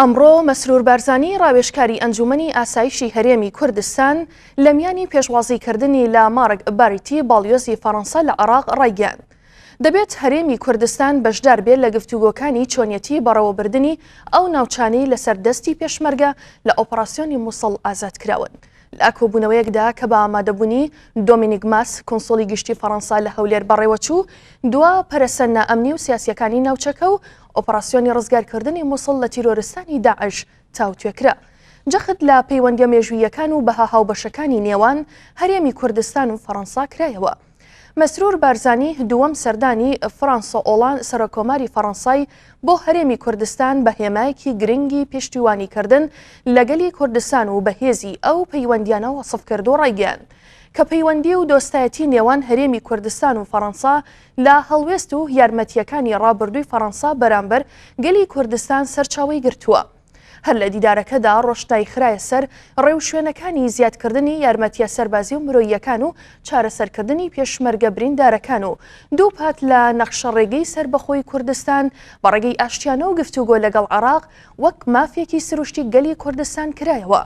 ئەمڕۆ مەسرور بارزانی ڕاوێشکاری ئەنجومنی ئاسایشی هەرێمی کوردستان لە میانی پێشوازیکردنی لە مارک باریتی باڵیۆزی فەڕەنسا لە عراق ڕایگەیاند دەبێت هەرێمی کوردستان بەشدار بێت لە گفتوگۆکانی چۆنیەتی بەڕەوەبردنی ئەو ناوچانەی لەسەر دەستی پێشمەرگە لە ئۆپەراسیۆنی مووسڵ ئازاد کراون. لە ئاکۆبوونەوەیەکدا کە بە ئامادەبوونی دۆمینیک ماس کنسۆلی گشتی فەڕەنسا لە هەولێر بەڕێوەچوو دوا پەرەسەنە ئەمنی و سیاسیەکانی ناوچەکە و ئۆپەڕاسیۆنی ڕزگارکردنی موسڵ لە تیرۆرستانی داعش تاوتوێ کرا. جەخت لە پەیوەندییە مێژووییەکان و بەها هاوبەشەکانی نێوان هەرێمی کوردستان و فەڕەنسا کرایەوە. مەسرور بارزانی دووەم سەردانی فرانسۆ ئۆڵان سەرۆککۆماری فەڕەنسای بۆ هەرێمی کوردستان بە هێمایەکی گرنگی پشتیوانیکردن لە گەلی کوردستان و بەهێزی ئەو پەیوەندیانە وەسف کرد و ڕایگەیاند کە پەیوەندی و دۆستایەتی نێوان هەرێمی کوردستان و فەڕەنسا لە هەڵوێست و یارمەتییەکانی ڕابردووی فەڕەنسا بەرامبەر گەلی کوردستان سەرچاوەی گرتووە. هەر لە دیدارەکەدا ڕۆشنایی خرایە سەر ڕێوشوێنەکانی زیادکردنی یارمەتییە سەربازی و مرۆییەکان و چارەسەرکردنی پێشمەرگە بریندارەکان و دووپات لە نەخشەڕێگەی سەربەخۆی کوردستان بە ڕێگەی ئاشتیانە و گفتوگۆ لەگەڵ عێراق وەک مافێکی سروشتی گەلی کوردستان کرایەوە.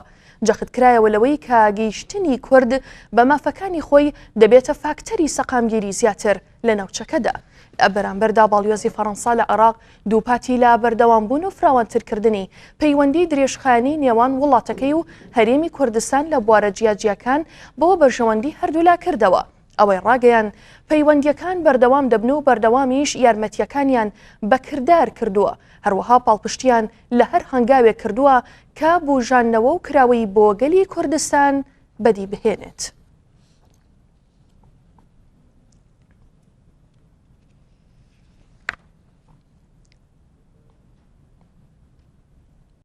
جەخت کرایەوە لەوەی کە گەیشتنی کورد بە مافەکانی خۆی دەبێتە فاکتەری سەقامگیری زیاتر لە ناوچەکەدا، لە بەرامبەردا باڵیۆزی فەرەنسا لە عێراق دووپاتی لە بەردەوامبوون و فراوانترکردنی پەیوەندیی درێژخایەنی نێوان وڵاتەکەی و هەرێمی کوردستان لە بوارە جیاجیاکان بۆ بەرژەوەندی هەردوولا کردەوە. ئەوەی ڕاگەیاند، پەیوەندییەکان بەردەوام دەبن و بەردەوامیش یارمەتییەکانیان بە کردار کردووە، هەروەها پاڵپشتییان لە هەر هەنگاوێک کردووە کە بووژاندنەوە و کراوەیی بۆ گەلی کوردستان بەدی بهێنێت.